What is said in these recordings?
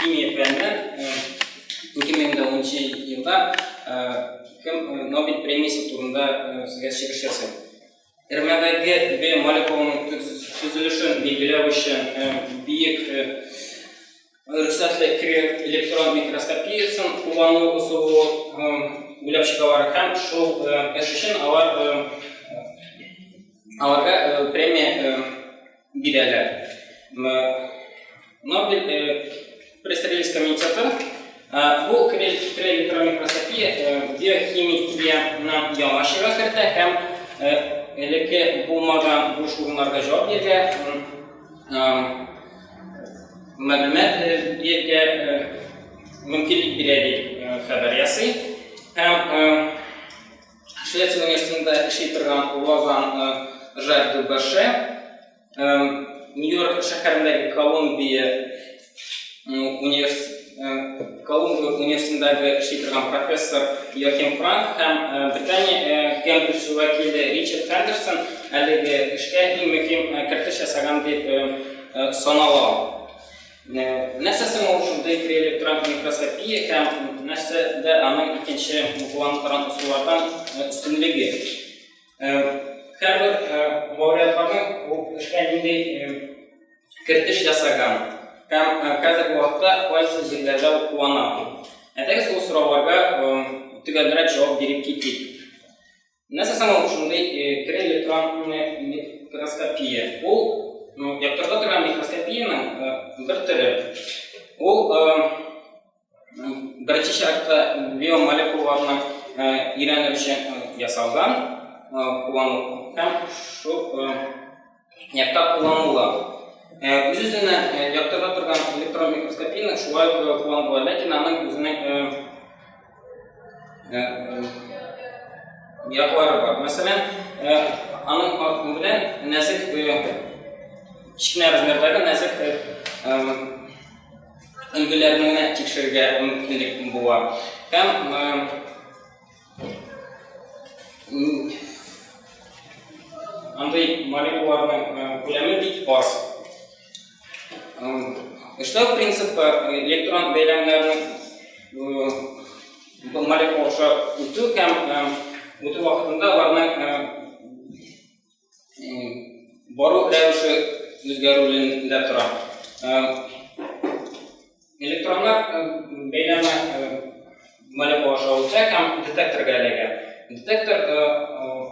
Химия пәненә 2010 елда кем Нобель премиясе турында сезгә чыгыш ясый. Эрмәдәге B молекулының төзелешен билгеләү өчен биек рөхсәтле креат электрон микроскопиясен куллану ысулы уйлап чыгалар һәм шул эш өчен алар аларга премия бирәләр. Нобель пресс-релиз комитеты бу электрон микроскопия биохимиянең яңа чорга кертә һәм элекке булмаган буш урыннарга җавап бирә. мәгълүмат бирергә мөмкинлек бирә дип хәбәр ясый. Һәм Швеция университетында эшли торган Лозан Жак Дубаше Нью-Йорк шәһәрендәге Колумбия университеты Колумбия университетындагы эшли торган профессор Йохим Франк һәм Британия Кембридж вәкиле Ричард Хендерсон әлеге эшкә иң мөһим кертеш ясаган дип санала. Нәрсә соң ул шундый приэлектрон микроскопия һәм нәрсәдә аның икенче план торган ысуллардан өстенлеге? Хәбәр мөрәҗәгатьнең бу эшкә нинди кертеш ясаган һәм хәзерге вакытта кайсы җирләрдә куллана. Әйтегез ул сорауларга төгәлрәк җавап биреп китик. Нәрсә соң ул шундый кере электрон микроскопия? Ул яктырта торган микроскопиянең бер төре. Ул Беренче чиратта биомолекулаларны өйрәнер өчен ясалган куллану һәм шул якта кулланула. Үз-үзенә яктырта торган электрон микроскопияне шулай кулланула, ләкин аның үзенең яклары бар. Мәсәлән, аның артын белән нәзек кечкенә размердагы нәзек өлгеләрне генә тикшерергә мөмкинлек була. Һәм андый молекулаларның күләме бик аз. Эшләү принципы электрон бәйләмнәрнең молекулаша үтү һәм үтү вакытында аларның бару рәвеше үзгәрүендә тора. Электронлар бәйләме молекула шавыча һәм детекторга эләгә. Детектор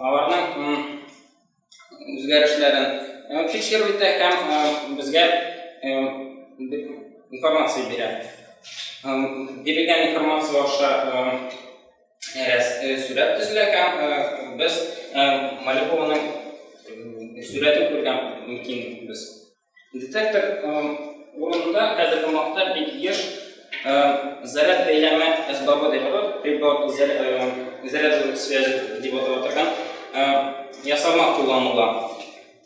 аларның үзгәрешләрен фиксирует һәм безгә информация бирә. Бирелгән информация аша сүрәт төзелә һәм без Малюкованың сүрәтен күргән мөмкин без. Детектор урынында хәзерге вакытта бик еш заряд бәйләме әсбабы дип аталып, заряд связи дип аталып торган ясалма кулланыла.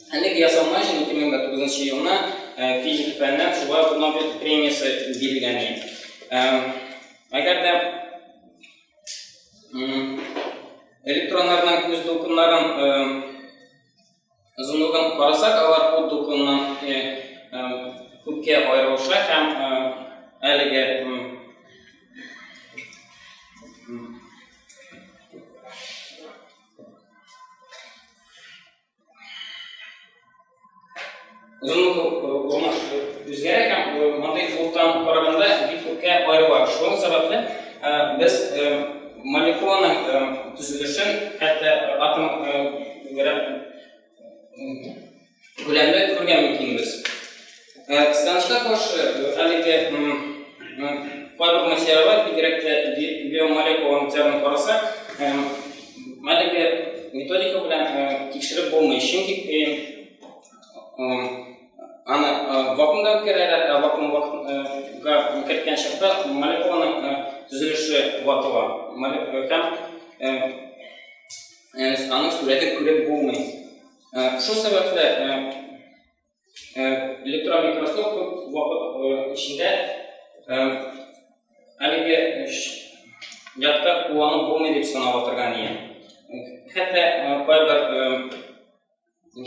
Әлеге ясалма өчен 2009 елына физик фәннәр шулай ук Нобель премиясе бирелгән. Әгәр дә Электроннарның күз дулкыннарын озынлыгын карасак, алар ут дулкыныннан күпкә аерылыша һәм әлеге Узымлы урмаш үзгәрә һәм мондый клубтан караганда бик күпкә аерыла. Шуның сәбәпле без молекуланың төзелешен, хәтта атом күләмле күргән мөмкинбез. Ә станжга каршы әлеге барлык материаллар, бигрәк тә биомолекулаларның тәмен карасак, әлеге методика белән тикшереп булмый. Чөнки аны вакуумда үткәрәләр, ә вакуумга керткән чакта молекуланың төзелеше ватыла. Һәм аның сурәтен күреп булмый. Шул сәбәпле электрон микроскоп күп вакыт эчендә әлеге ятка куллану булмый дип санап отырган ия хәтта кайбер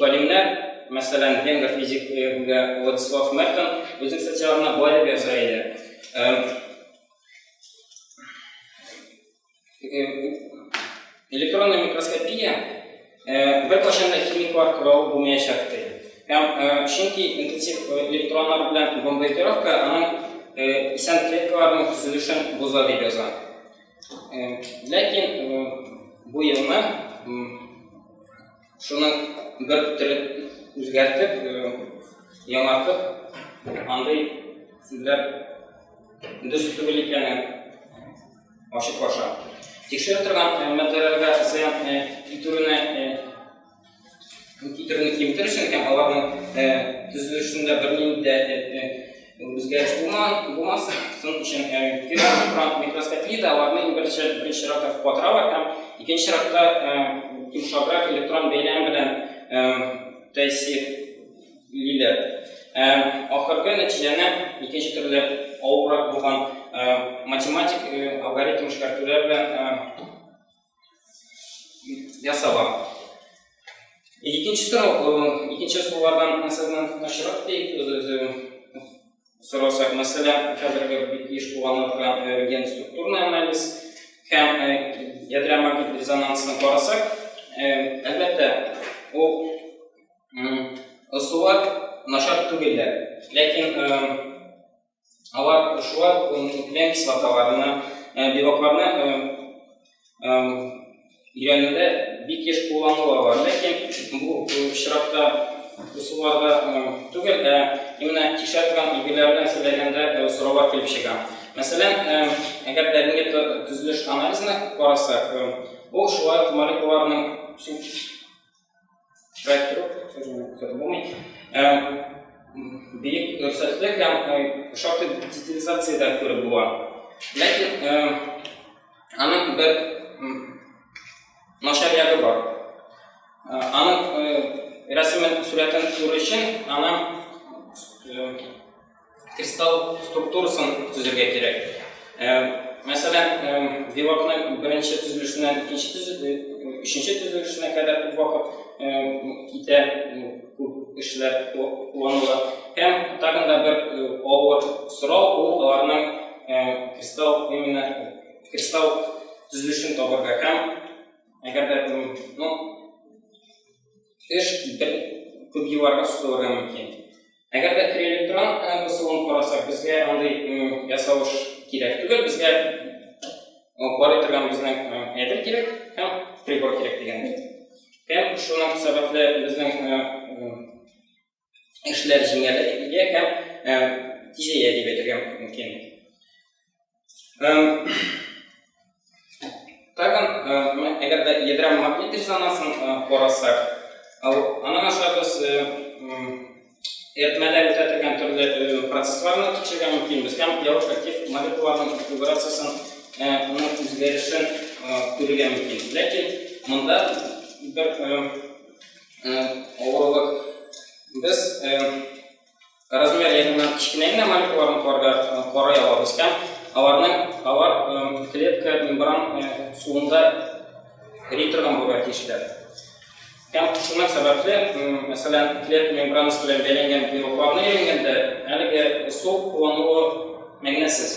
галимнәр мәсәлән венгр физигы владислав мертон үзек социалына былай дип яза иде э, электронная микроскопия э, бер кайчан да химик варкырау булмаячак ди. Һәм э, чөнки интенсив электроннар белән бомбардировка аның исән клеткаларның төзелешен боза дип яза. Ләкин бу елны Шуның бер төрен үзгәртеп, яңартып, андый сүзләр дөрес түгел икәнен ачык аша. Тикшереп торган мәддәләргә зыян китерүне китерүне киметер өчен һәм аларның төзелешендә бернинди дә Үзгәреш булман, булмас, соң өчен кирәк микроскопия дә аларны иң беренче беренче чиратта катыралар һәм икенче чиратта йомшаграк электрон бәйләм белән тәэсир лиләр. Ахыргы нәтиҗәне икенче төрле авыррак булган математик алгоритм эшкәртүләр белән ясала. Икенче тора, икенче сулардан мәсәлән ташрак дип сорасак, мәсәлән, хәзерге бик еш кулланыла торган ген структурный анализ һәм ядрә магнит резонансын карасак, әлбәттә, ул ысуллар начар түгелләр. Ләкин алар шулай ук нуклеин кислоталарына, белокларны өйрәнүдә бик еш кулланыла бар. Ләкин бу очракта ысулларда түгел, ә именно тикшерә торган билгеләр белән сөйләгәндә сораулар килеп чыга. Мәсәлән, әгәр дә бүгенге төзелеш анализына карасак, ул шулай ук молекулаларның Шайтыр, булмый. Бик көрсәтлек һәм шактый детализациядә күреп була. Ләкин аның бер начар ягы бар. Аның рәсемен, сурәтен күрү өчен, аның Кристалл структурасын төзергә кирәк. Э, мәсәлән, э, белокны беренче төзелешеннән икенче төзелеш, өченче төзелешенә кадәр күп вакыт э, китә, күп эшләр кулланыла. Һәм тагын да бер авыр сорау ул аларның кристалл именно кристалл төзелешен табарга һәм әгәр дә ну, эш бер күп елларга сузылырга мөмкин. Әгәр дә триэлектрон кысылуын карасак, безгә андый ясалыш кирәк түгел, безгә карый торган безнең әйбер кирәк һәм прибор кирәк дигән. Һәм шуның сәбәпле безнең эшләр җиңеләя һәм тизәя дип әйтергә мөмкин. Эм, тагын, э, әгәр дә ядрә магнит резонансын э, карасак, аның аша без э, эритмәдә үтә торган төрле э, процессларны тикшергән мөмкинбез һәм явыш актив молекулаларның конфигурациясен э, оның үзгәрешен э, күрергә мөмкин ләкин монда бер авырлык без Размер ягыннан кечкенә генә молекулаларны куарга карый алабыз һәм аларның алар клетка мембран суында эри торган булырга тиешләр. Һәм шуның сәбәпле, мәсәлән, клетка мембранасы белән бәйләнгән белокларны әйләнгәндә, әлеге су куллануы мәгънәсез.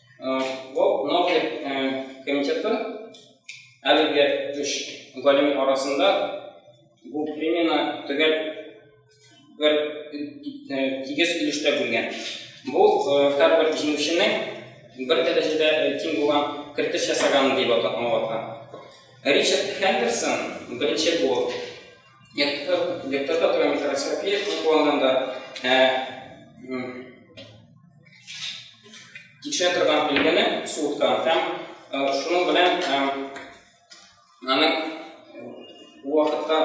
Ул Ноклик комитеты әлеге үш галим арасында бу премияне төгәл бер тигез өлештә бүлгән. Бу һәрбер җиңүченең бер дәрәҗәдә тиң булган кертеш ясаганы дип аталган. Ричард Хендерсон беренче булып Декторта микроскопия кулланганда кичә торган билгене суткан һәм шуның белән аның вакытка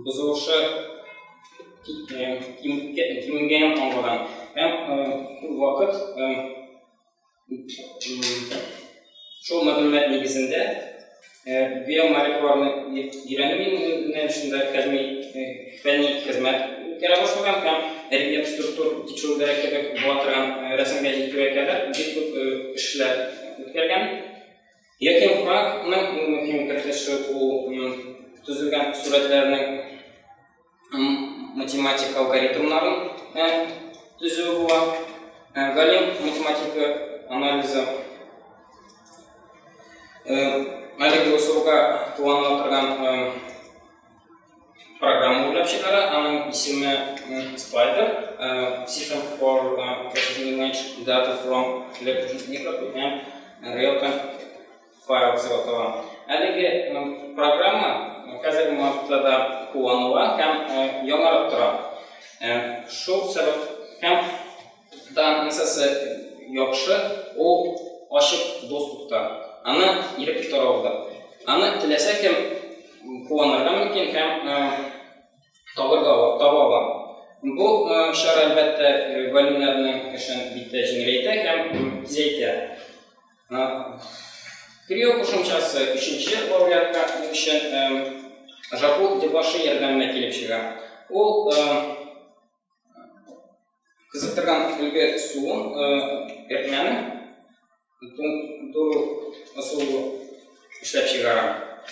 бозылышы кимегәнен аңлаган һәм вакыт Шул мәгълүмат нигезендә биомолекулярны өйрәнү юнәлешендә кәдми фәнни хезмәт үткәрә башлаган һәм рельеф структур тикшерүләре кебек була торган рәсемгә җитүгә кадәр бик күп эшләр үткәргән. Яким Франкның иң мөһим кертеше ул төзелгән сурәтләрнең математик алгоритмнарын төзү була. Галим математика анализы әлеге ысулга кулланыла торган программа уйлап чыгара, аның исеме Spider, System for Processing Image Data from Electronic Real Time файл дип атала. Әлеге программа хәзерге вакытта да кулланыла һәм яңарып тора. Шул сәбәп һәм данныйсасы яхшы, ул ачык доступта. Аны ирек торалда. Аны теләсә кем кулланырга мөмкин һәм табырга таба ала. Бу чара әлбәттә галимнәрнең эшен бик тә җиңеләйтә һәм тизәйтә. Крио кушымчасы өченче вариантка өчен жапу дебашы ярдәменә килеп чыга. Ул кызыктырган өлге суын эритмәне туру ысулы эшләп чыгара.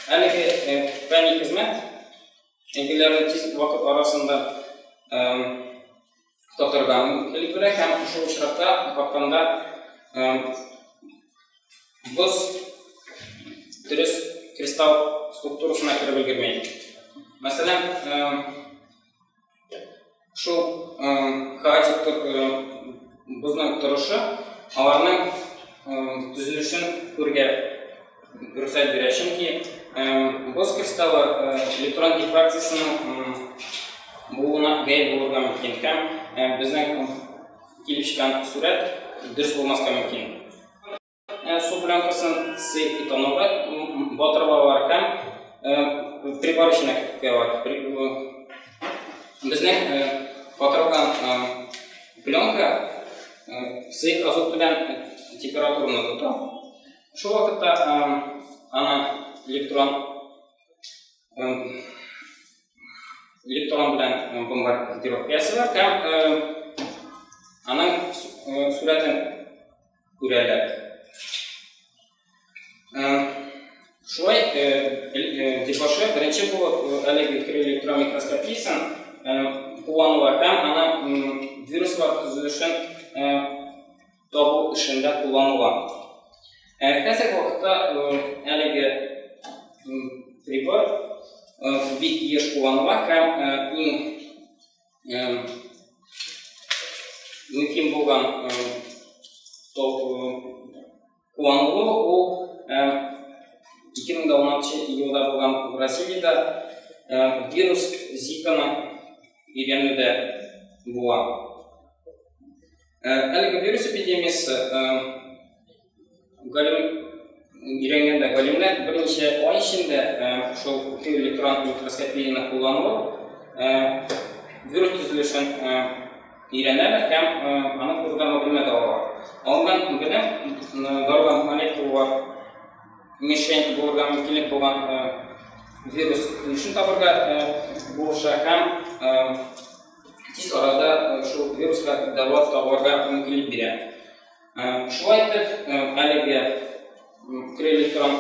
Әлеге фәнни хезмәт өлгеләрне тиз вакыт арасында татырдан килеп керә һәм шул очракта капканда боз дөрес кристалл структурасына кереп өлгермәй. Мәсәлән, шул хаотик бозның торышы аларның төзелешен күргә Рөхсәт бирә, чөнки боз кристаллы электрон дифракциясенең булуына гәйб булырга мөмкин һәм безнең килеп чыккан сурәт дөрес булмаска мөмкин. Су пленкасын сый итонога батырлаулар һәм прибор эченә куялар. Безнең батырылган пленка сый азот белән температураны тота. Шул вакытта ана электрон электрон белән бомбардировка ясыйлар һәм аның сурәтен күрәләр. Шулай дебашы беренче булып әлеге электрон микроскопиясен кулланулар һәм ана вируслар төзелешен табу эшендә кулланыла. Ә хәзерге вакытта әлеге прибор бик еш кулланыла һәм иң мөһим булган кулланылу ул 2016 елда булган Бразилиядә вирус зиканы өйрәнүдә була. Ә, әлеге вирус эпидемиясе галим өйрәнгәндә галимнәр берничә ай эчендә шул электрон микроскопияне куллану вирус төзелешен өйрәнәләр һәм аны турыда мәгълүмат алалар. Алган белем дарудан молекулалар мишень булырга мөмкинлек булган вирус ничек табырга булыша һәм тиз арада шул вируска дәва табарга мөмкинлек бирә. Шулай итеп, әлеге крелектрон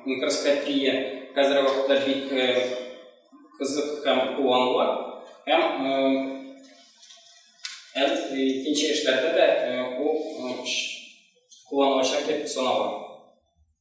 микроскопия хәзер вакытта бик кызык һәм кулланыла. Һәм әл икенче эшләрдә дә ул кулланылачак дип санала.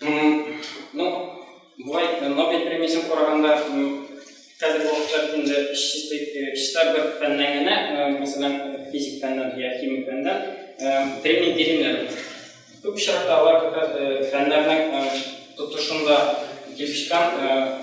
Ну, былай э, Нобель премиясен караганда хәзерге вакытта бит инде чисто чисто бер фәннән генә, мәсәлән, физик фәннән я химик фәннән премия бирелә. Күп очракта алар как раз фәннәрнең тотышында килеп чыккан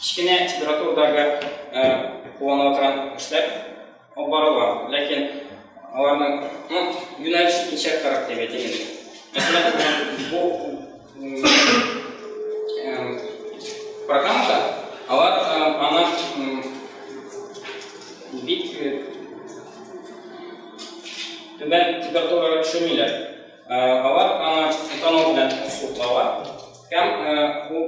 кечкенә температурадагы куана торган кешеләр алып барыла. Ләкин аларның ну, юнәлеш икенче карап дип әйтәләр. Мәсәлән, бу программада алар аны бик түбән температурага төшермиләр. Алар аны этанол белән суыклауга һәм ул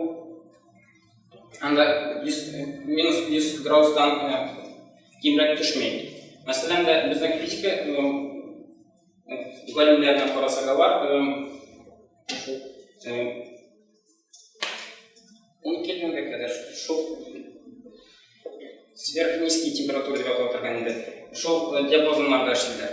анда 100, минус 100 градустан кимрәк төшмәй. Мәсәлән, дә безнең физика галимнәренә карасак, алар 10 килгәнгә кадәр шул сверхнизкий температура дип аталып торган инде. Шул диапазоннарда эшлиләр.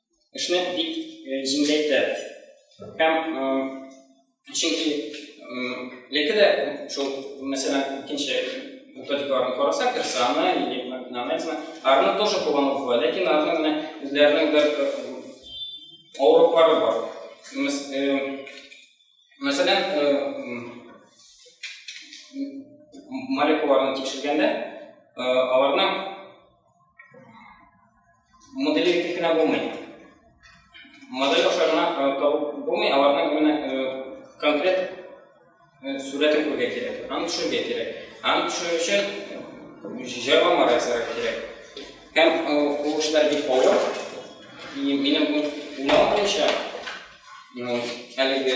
эшне бик җиңеләйтә. Һәм чөнки яки дә шул, мәсәлән, икенче методикаларны карасак, Ирсаны, Нанайзны, арны тоже кулланып була, ләкин арны менә үзләренең бер авырлыклары бар. Мәсәлән, молекулаларны тикшергәндә, аларның Модели итеп кенә булмый. Модель аша гына табып булмый, аларның именно конкрет сурәтен күрергә кирәк, аны төшерергә кирәк. Аны төшерү өчен җайланма ясарга кирәк. Һәм ул эшләр бик авыр. Минем уйлавым буенча, әлеге